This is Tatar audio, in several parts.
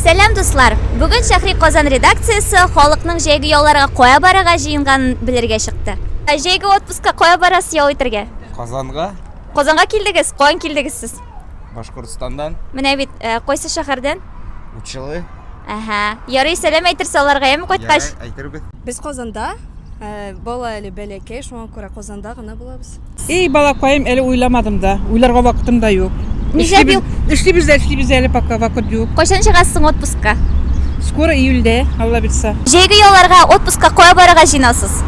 Сәлам дуслар! Бүген Шәхри Казан редакциясе халыкның җәйге яуларга кая барырга җыенганын белергә чыкты. Ә Җәйге отпускка кая барасыз ял итәргә? Казанга, Казанга килдегез, каян килдегез сез? Башкортстандан, Менә бит, э, кайсы шәһәрдән? Учылы, Әһә. Ярый, сәлам әйтерсез аларга, яме кайткач. Ярый, әйтербез. Без Казанда, э, бала әле бәләкәй, шуңа күрә Казанда гына булабыз. Эй, балакаем, әле уйламадым да. Уйларга вакытым да юк. Ничә бил? Эшлибез дә эшлибез әле пока вакыт юк. Кайчан чыгасыз соң отпускка? Скоро июльдә, Алла бирса. Җәйге ялларга отпускка кая барырга җыенасыз?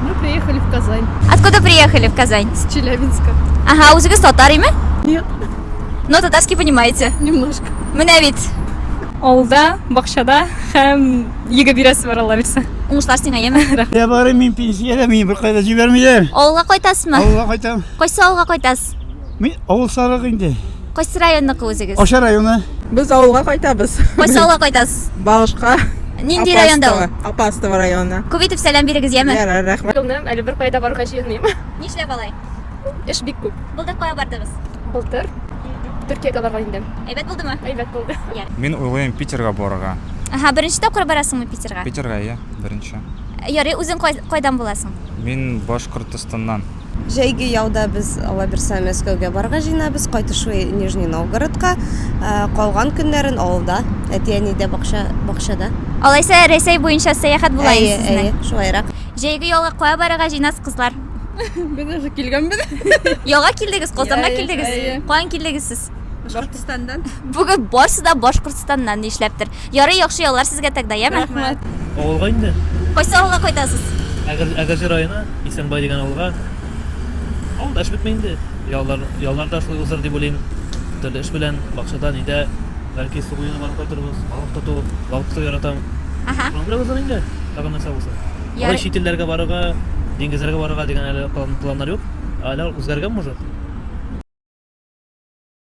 Мы приехали в Казань. Откуда приехали в Казань? С Челябинска. Ага, үзегез татар име? Нет. Но татарский понимаете? Немножко. Менә бит. Авылда, бакчада һәм Йөге бирәсе бар алла бирсә. Уңышлар сиңа, яме. Я барым мин пенсиядә, мине беркайда җибәрмиләр. Авылга кайтасызмы? Авылга кайтам. Кайсы авылга кайтасыз? Мин авыл сарык инде. Кайсы районныкы үзегез? Аша районы. Без авылга кайтабыз. Кайсы авылга кайтасыз? Багышка. Нинди районда ул? Апастово районы. Күп итеп сәлам бирегез, яме. Ярар, рәхмәт. Кылным, әле беркая да барырга җыенмыйм. Нишләп алай? Эш бик күп. Былтыр кая бардыгыз? Былтыр Төркиягә барган идем. Әйбәт булдымы? Әйбәт булды. Йә. Мин уйлыйм Питерга барырга. Аһа, беренче тапкыр барасыңмы Питерга? Питерга, ия, беренче. Ярый, үзең кай, кайдан буласың? Мин Башкортостаннан. Җәйге ялда без, Алла бирсә, Мәскәүгә барырга җыенабыз, кайтышлый Нижний Новгородка. Ә, Калган көннәрен авылда, әти-әнидә, бакча, бакчада. Алайса, Рәсәй буенча сәяхәт була Әйе, инде әйе, сезнең. шулайрак. Җәйге ялга кая барырга җыенасыз, кызлар? Без уже килгәнбез. Яңа килдегез, Казанга Иә, иә, килдегез. иә. Каян килдегез сез? Башкортстандан. Бүген барсы да Башкортстаннан нишләптер. Ярый, яхшы яллар сезгә тогда, яме? Рәхмәт. Авылга инде. Кайсы авылга кайтасыз? Әгер- Әгерҗе районы, Исәнбай дигән авылга. Авылда эш бетми инде. Яллар, яллар да шулай узыр дип уйлыйм. Төрле эш белән, бакчада, нидә, бәлки су буена барып кайтырбыз, балык тоту, балык тоту яратам. Аха. Шуның белән узыр инде, тагын нәрсә булса. Ярый. Алай чит илләргә барырга, диңгезләргә барырга дигән әле планнар юк. Алар үзгәргән может?